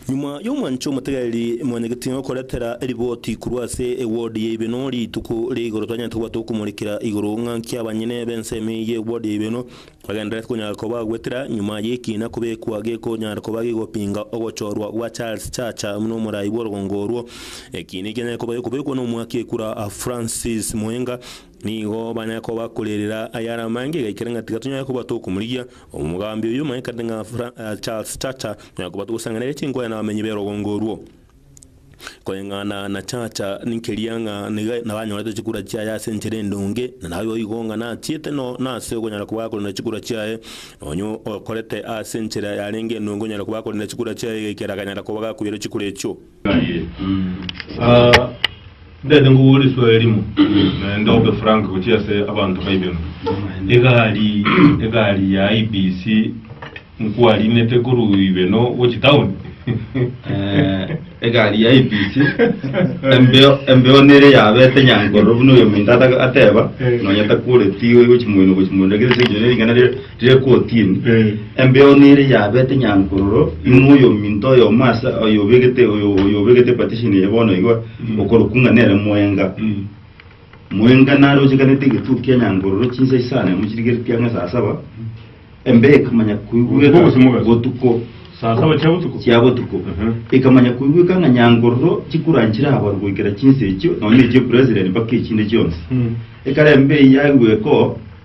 Nyuma y'omwancho omotegereri mwanyagetwe ngokoretera eriboti korwa ase ewodi ya Ibeno rituko ria igoro twanyarete koba tokomorekera igoro ng'a nki abanyene b'ensemo eye y'ewodi ya Ibeno bagendererete konyara koba gwetera nyuma y'ekiina kobekwa gekonyara koba gigopinga ogochorwa gwa Charles Chacha n'omorai bw'orogongo orwo. Ekiina ekianyare koba gikobekwa n'omwaki ekura Francis Muhenga Nigo banya kobakorerera ayare amange igaikera ng'a tiga tonyare koba tokomorigia. Omogambi oyio omanyekete ng'a Fra- eh, Charles Chacha onyare koba togosangereria chinkoya na abamenyi b'erogongo orwo. Koreng'ana na Chacha ninkeria ng'a niga nabanyorete chikura chiaye ase enchera endonge, na naye oigo ng'a nachiete no nase okonyara koba akorenda chikura chiaye. Onye okorete ase enchera yarenge endonge onyare koba akorenda chikura chiaye igaikera akanyara koba gakoira chikura echio. Naye ah, ndete ngokora esuo erimo naende obe frank gochia ase abanto baibemo egari egari ya ibc nkwarinete korwa ibeno gochi town Eh, egari ya ibc embeo embeo nere yabete nyankoro buna oyo minto ata- ateba Eh. nonya takoreti gochi moino gochi moino lakini ase eng'encho nere ring'ana ria Rire 14, Embeo nere yabete nyankororo, inwe oyominto oyomo ase oyobegete oyo oyobegete partition eye bono iga, okorokwa ng'a nere mwenga. Mwenga narochekanete egetutu kia nyankororo chinsa isano emo chirigeretie ang'e saa saba, embeo ekamanya koigweka Botuko gose mogaso? botuko Saa saba chia botuko? chia botuko Aha. ekamanya koigweka ng'a nyankororo chikura nchirabarwe goikera chinsa echio nonya echie president mpaka echinde chionsi Mm. ekare embeo yaigweka oo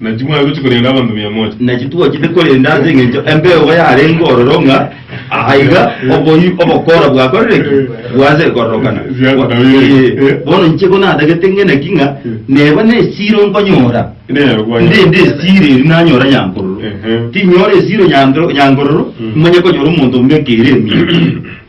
Naki mwaigotire korenda abanto mia moja. Naki twochete korenda ase engencho embeogo yarenge ororo ng'a aha iga oboyio obokora bwakorire ki? Bwanse kororokana. Ee, bono inche ko natagete ng'e naki ng'a neba nesiro nkonyora, ndende esiro erio nanyora nyankororo. Tinyora esiro nyanto- nyankororo, nimanye konyora omonto ombeke ere emiya.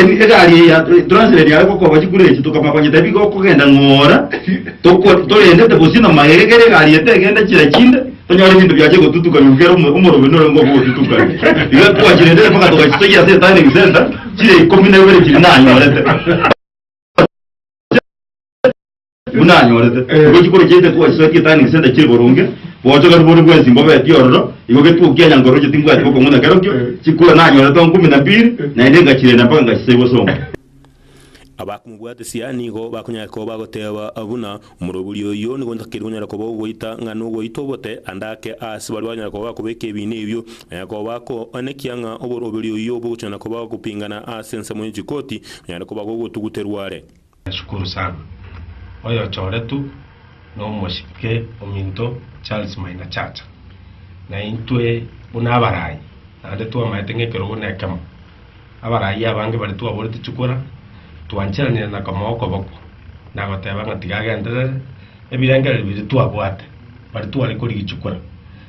Ebi egari eye ya translate yaye gokoba chikura echi tokamanya konya tebi gokogenda ng'ora toko torendete bosio na magega ekero egari eye tegenda chira chinde tonyore ebinto biache gotutukanio ekero omo- omorobio nore ngoba ogotutukani iga twachirendete mpaka togachisoyia ase eturning center chire ikomi na ibere chiri nanyorete Buna anyorete, Eh. nigo chikoro chiaito twachiswetie tani gisende chire boronge, bocho kare bore bwensi mbobeti ororo, igo getuo kia nyankoroche timbwati gokong'una kerokio, Eh. chikoro nanyorete onkumi na biri, Eh. naende ngachirenda mpaka ngachisegwa osomo. Abakomobwatesia nigo bakonyara koba bagoteba buna, Omorobori oyio nigo ontakiri konyara koba ogoita, ng'a nogoita obote, ande ake aase baria bakonyara koba bakobeka ebiina ebio, na yakoba bakoanekia ng'a oborobori oyio bogochana koba gokopingana aase ensemo ye chikoti, onyare koba gogotuguterwa are. Nashukuru sana. Oyochoretwe nomochike ominto Charles Maina Chacha. Naintwe buna abarayi naende twamaete ng'ekerogo na ekemo. Abarayi abange baria twaborete chikura twancheranire na kama okoboko nagoteba ng'a tiga agenderere ebirengererio biria twabwate baria tware korigia chikura.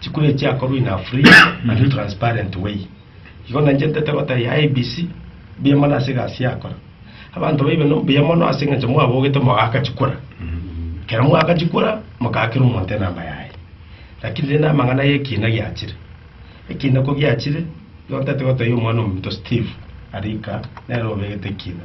Chikura echi chiakorwa in a free and transparent way. Igo nainchentete gotebia IEBC mbuya mono ase egasi yakora. Abanto baibe no mbuya mono ase eng'encho mwabogete mogaaka chikura. Ekero mwaaka chikura mokaakera omonto enamba yaye. Lakini rende amang'ana y'ekiina giachire. Ekiina ko giachire, igo ntete gotebia omwana ominto Steve arika nere obegete ekiina.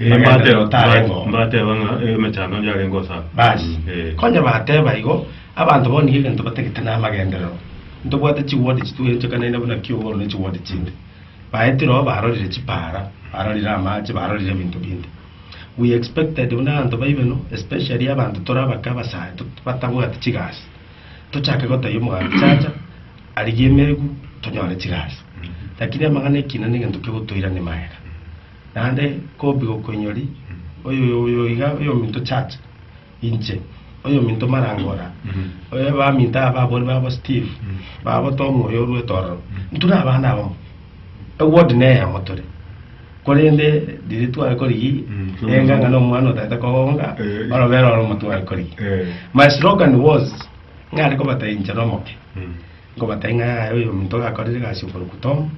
Ee, Amagento mbateba, yotare mbat- ng'o? mbateba ng'a eh, emechando onde arenge osa. Basi, Eh. konya bateba igo, abanto bono nigo egento batagete namagenderero. Ntobwate chiwodi chitwerenchekanaine buna kiogoro ne chiwodi chinde. Baetire oo barorire chipaara, barorire amache, barorire ebinto binde. We expected buna abanto baibe no, especially abanto tore abake abasae to- batabwati chigasi. Tochake gotebia omoganda chacha, arigie emegu, tonyore chigasi. Lakini amang'ana ekina negento kegotoirani magega. Naende kobi gokoinyori, oyoiga oyominto church inche, oyominto marangora, baminto aba ababori babo Steve, babo Tom oyo orwete ororo, intwe na abana abamo, eward neyemo tore, korende riria tware korigia enga ng'a na omwana otagete kogonga orobere oromo tware korigia, my slogan was ng'are kobataincha nomoke. Nkobata ing'aya yaye oyominto gakorire egasi oboruku Tom,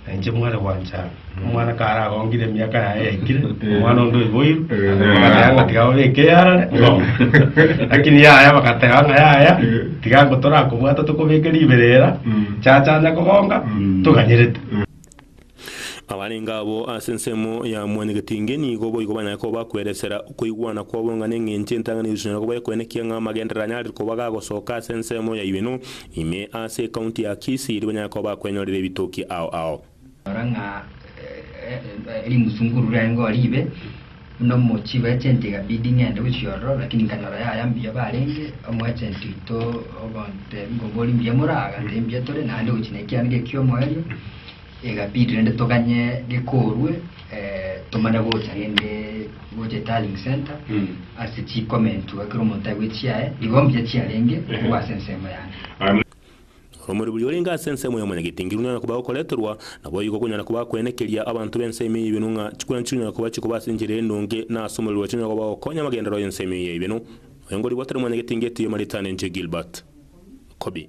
na inche mware gwancha. Omwana karagongire emiaka yaye yaikire, omwana onde oiboirwe, bagateba ng'a tiga babeke eyarare ng'ombe. Lakini yaya bagateba ng'a yaya, tiga ngo torakobwata tokobeke ribere era, chachanya kogonga, toganyerete. Abarenge abwo ase ensemo ya mwanyagetinge nigo boigo banyare koba bakweresera okoigwana kwabo ng'a neng'encho entang'ani Yeso nyare koba ekwenekia ng'a amagenderero anyarire koba gagosoka ase ensemo yaye beno ime ase ecounty ya Kisii erio banyare koba bakwenyorera ebitoki ao ao. Rora ng'a erimsunguru riaye ngori ibe. Buna omochie we agent egabidi ng'ende gochia ororo, lakini nkanyora yaya mbuya barenge, omo agent oito ogontebia nkombori mbuya more aa, agantebia mbuya tore naende gochia na ekiana eke ki'omoerio, egabidi rende toganye gekorwe eh, tomanye gocha rende gocha etarling centre Mm. ase chikomentwa kera omonto aigwe chiaye, igo mbuya chiarenge Ehe. korwa ase ensemo yane. Amen. Omori boria orenge ase ensemo ya omonyagetengeru nonyara koba okoreterwa, naboigo okonyara koba kwenekeria abanto b'ense ime y'ebienu ng'a chikwana chikonyara koba chikoba ase enchera endonge, na ase omorero chikonyara koba gokonya amagenderero y'ense ime y'ebienu. Oyo ngoribwo otari mwanyagetengeti oyomarete ane inche Gilbert. Kobi.